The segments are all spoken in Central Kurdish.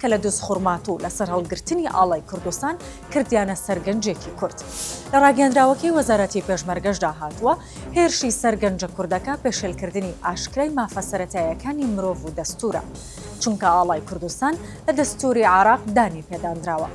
کە لە دز خورماتوو و لەسەر هەڵگرتنی ئاڵای کوردستان کردیانە سەر گەنجێکی کورد. لە ڕاگەیەندراوەکەی وەزارەتی پێشمەرگەشدا هاتووە، هێرشی سەر گەنجە کوردەکە پێشێلکردنی ئاشکرای مافە سەرەتایەکانی مرۆڤ و دەستوورە، چونکە ئاڵای کوردستان لە دەستووری عێراق دانی پێدانراوە.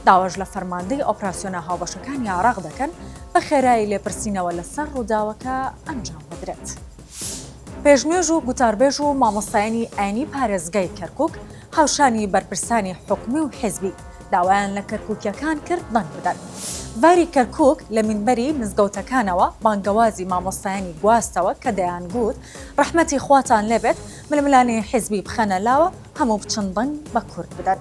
داواش لە فەرماندەی ئۆپراسیۆنە هاوبەشەکانی عێراق دەکەن، بە خێرایی لێپرسینەوە لەسەر ڕووداوەکە ئەنجام بدرێت. پێشنوێژ و گوتاربێژ و مامۆستایانی ئاینی پارێزگای کەرکووک، هاوشانی بەرپرسانی حکومی و حزبی داوایان لە کەرکوکیەکان کرد دەنگ بدەن. باری کەرکوک لە مینبەری مزگەوتەکانەوە بانگەوازی مامۆستایانی گواستەوە کە دەیان گووت ڕەحمەتی خواتان لێبێت ململانێی حزبی بخەنە لاوە هەموو بچن دەنگ بە کورد بدەن.